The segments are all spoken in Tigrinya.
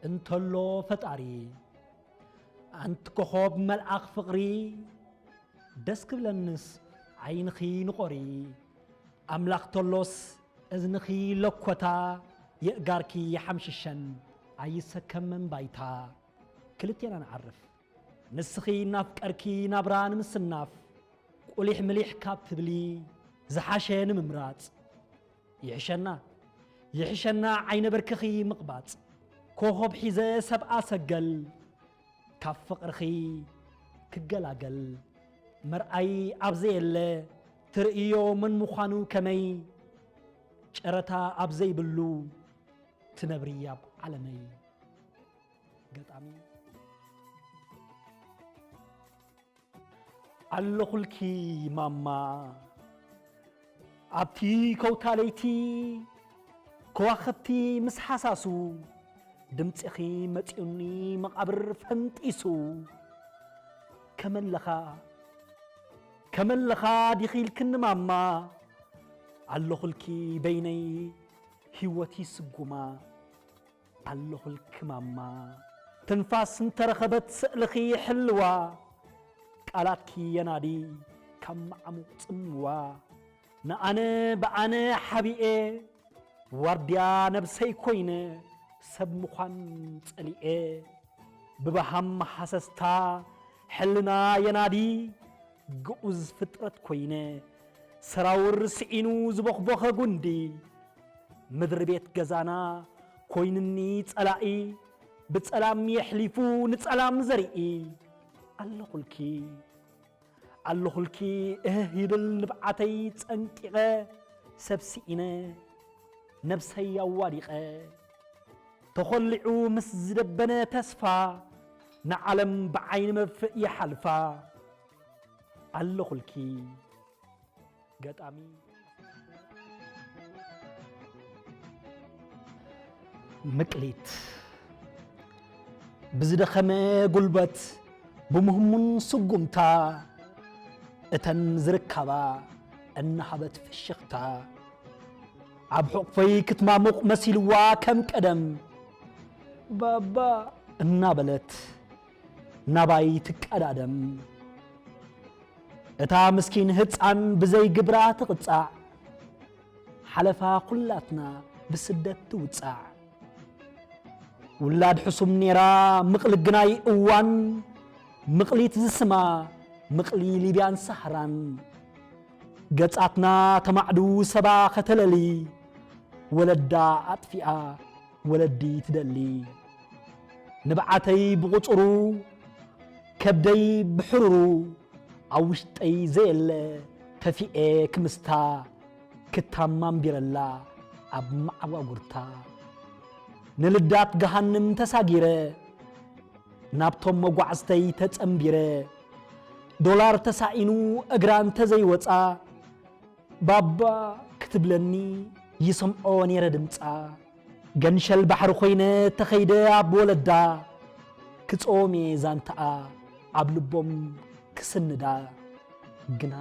እንተሎ ፈጣሪ ኣንቲ ኮኾብ መልኣኽ ፍቕሪ ደስ ክብለንስ ዓይንኺ ንቖሪ ኣምላኽ ተሎስ እዝንኺ ለኮታ የእጋርኪ ይሓምሽሸን ኣይሰከምም ባይታ ክልቴና ንዓርፍ ንስኺ እናፍቀርኪ ናብራ ንምስናፍ ቁሊሕ ምሊሕ ካብ ትብሊ ዝሓሸ ንምምራጽ ይሕሸና ይሕሸና ዓይነበርክኺ ምቕባጽ ኮኾብ ሒዘ ሰብኣ ሰገል ካብ ፍቕርኺ ክገላገል መርኣዪ ኣብ ዘየለ ትርእዮ መን ምዃኑ ከመይ ጨረታ ኣብ ዘይብሉ ትነብሪ ኣብ ዓለመይ ገጣሚ ኣለኹልኪ ማማ ኣብቲ ከውታ ለይቲ ከዋኸብቲ ምስ ሓሳሱ ድምፂኺ መፂኡኒ መቓብር ፈንጢሱ ከመለኻ ከመለኻ ዲኺ ኢልክኒ ማማ ኣለኹልኪ በይነይ ህይወት ይስጉማ ኣለኹልኪ ማማ። ትንፋስ እንተረኸበት ስእልኺ ይሕልዋ። ቃላትኪ የናዲ ካብ መዓሙቕ ጽምዋ። ንኣነ ብኣነ ሓቢኤ ዋርድያ ነብሰይ ኮይነ ሰብ ምዃን ጸሊኤ። ብበሃም ሃሰስታ ሕልና የናዲ ግኡዝ ፍጥረት ኮይነ ሰራውር ስኢኑ ዝቦኽቦኸ ጉንዲ። ምድሪ ቤት ገዛና ኮይኑኒ ጸላኢ ብጸላም የሕሊፉ ንጸላም ዘርኢ ኣለኹልኪ ኣለኹልኪ እህህ ይብል ንብዓተይ ጸንቂቐ ሰብ ስኢነ ነብሰይ ኣዋዲቐ ተኾሊዑ ምስ ዝደበነ ተስፋ ንዓለም ብዓይኒ መፍእ ይሓልፋ ኣለኹልኪ ገጣሚ ምቅሊት ብዝደኸመ ጉልበት ብምህሙን ስጉምታ እተን ዝርካባ እናሃበት ፍሽኽታ ኣብ ሕቑፈይ ክትማሙቕ መሲልዋ ከም ቀደም ባባ እናበለት ናባይ ትቀዳደም እታ ምስኪን ህፃን ብዘይ ግብራ ትቕፃዕ ሓለፋ ኩላትና ብስደት ትውፃዕ ውላድ ሕሱም ኔራ ምቕልግናይ እዋን ምቕሊት ዝስማ ምቕሊ ሊብያን ሳህራን ገጻትና ተማዕዱ ሰባ ከተለሊ ወለዳ ኣጥፊኣ ወለዲ ትደሊ ንብዓተይ ብቑጽሩ ከብደይ ብሕሩሩ ኣብ ውሽጠይ ዘየለ ተፊኤ ክምስታ ክታም ኣንቢረላ ኣብ መዓጓጉርታ ንልዳት ገሃንም ተሳጊረ ናብቶም መጓዕዝተይ ተጸንቢረ ዶላር ተሳኢኑ እግራ እንተዘይወጻ ባባ ክትብለኒ ይሰምዖ ነይረ ድምጻ ገንሸል ባሕሪ ኮይነ ተኸይደ ኣብ ወለዳ ክጸዎም እየ ዛንታኣ ኣብ ልቦም ክስንዳ ግና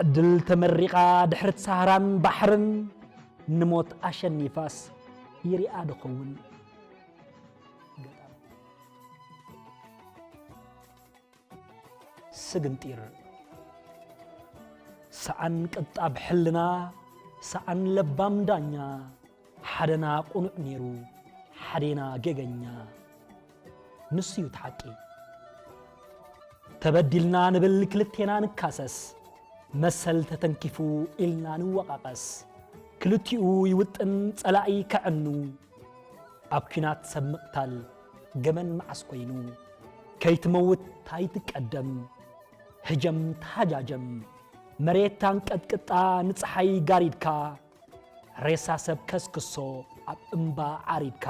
ዕድል ተመሪቓ ድሕሪ ሳህራን ባሕርን ንሞት ኣሸኒፋስ ይሪኣ ድኸውን ስግንጢር ሰኣን ቅጣብ ሕልና ሰኣን ለባም ዳኛ ሓደና ቁኑዕ ነይሩ ሓዴና ጌገኛ ንሱ እዩ ትሓቂ ተበዲልና ንብል ክልቴና ንካሰስ መሰል ተተንኪፉ ኢልና ንወቓቐስ ክልቲኡ ይውጥን ጸላኢ ከዕኑ ኣብ ኲናት ሰብ ምቕታል ገበን መዓስ ኮይኑ? ከይትመውት ኣይትቀደም ህጀም ተሃጃጀም መሬት ኣንቀጥቅጣ ንፀሓይ ጋሪድካ ሬሳ ሰብ ከስክሶ ኣብ እምባ ዓሪድካ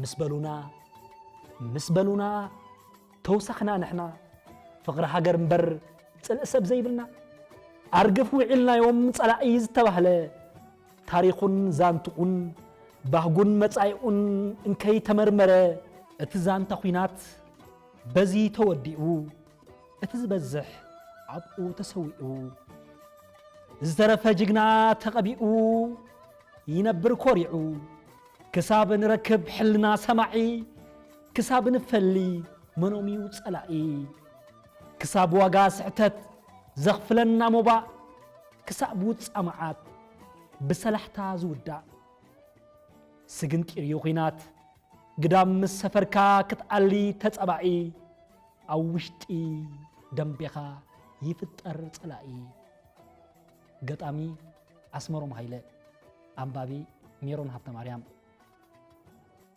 ምስ በሉና ምስ በሉና ተውሳኽና ንሕና ፍቕሪ ሃገር እምበር ፅልኢ ሰብ ዘይብልና ኣርግፍ ውዒልናዮም ፀላኢ ዝተባህለ ታሪኹን ዛንትኡን ባህጉን መጻኢኡን እንከይተመርመረ፣ እቲ ዛንታ ኹናት በዚ ተወዲኡ እቲ ዝበዝሕ ኣብኡ ተሰዊኡ ዝተረፈ ጅግና ተቐቢኡ ይነብር ኮሪዑ ክሳብ ንረክብ ሕልና ሰማዒ ክሳብ ንፈሊ መኖምዩ ጸላኢ ክሳብ ዋጋ ስሕተት ዘኽፍለና ሞባእ ክሳዕ ብውጽኣ መዓት ብሰላሕታ ዝውዳእ ስግንጢርዮ ኹናት ግዳም ምስ ሰፈርካ ክትኣሊ ተጸባኢ ኣብ ውሽጢ ደምቤኻ ይፍጠር ጸላኢ ገጣሚ ኣስመሮም ሃይለ ኣንባቢ ሜሮን ሃብተማርያም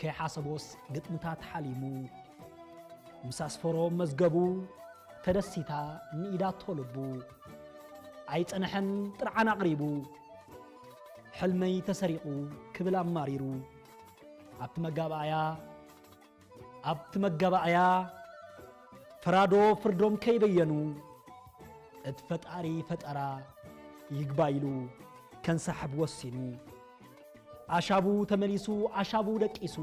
ከይሓሰቦስ ግጥምታት ሓሊሙ ምስ ኣስፈሮ መዝገቡ ተደሲታ ንኢዳቶ ልቡ ኣይጸነሐን ጥርዓን ኣቕሪቡ ሕልመይ ተሰሪቑ ክብል ኣማሪሩ ኣብቲ መጋባእያ ኣብቲ መጋባእያ ፈራዶ ፍርዶም ከይበየኑ እቲ ፈጣሪ ፈጠራ ይግባ ኢሉ ከንሳሕብ ወሲኑ ኣሻቡ ተመሊሱ ኣሻቡ ደቂሱ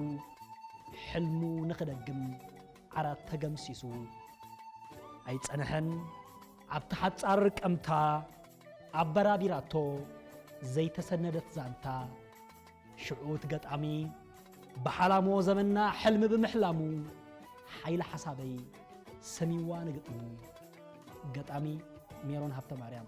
ሕልሙ ንኽደግም ዓራት ተገምሲሱ ኣይጸንሐን ኣብቲ ሓጻር ቀምታ ኣበራቢራቶ ዘይተሰነደት ዛንታ ሽዑ እቲ ገጣሚ ብሓላሞ ዘመና ሕልሚ ብምሕላሙ ሓይሊ ሓሳበይ ሰሚዋ ንግጥሙ ገጣሚ ሜሮን ሃብተማርያም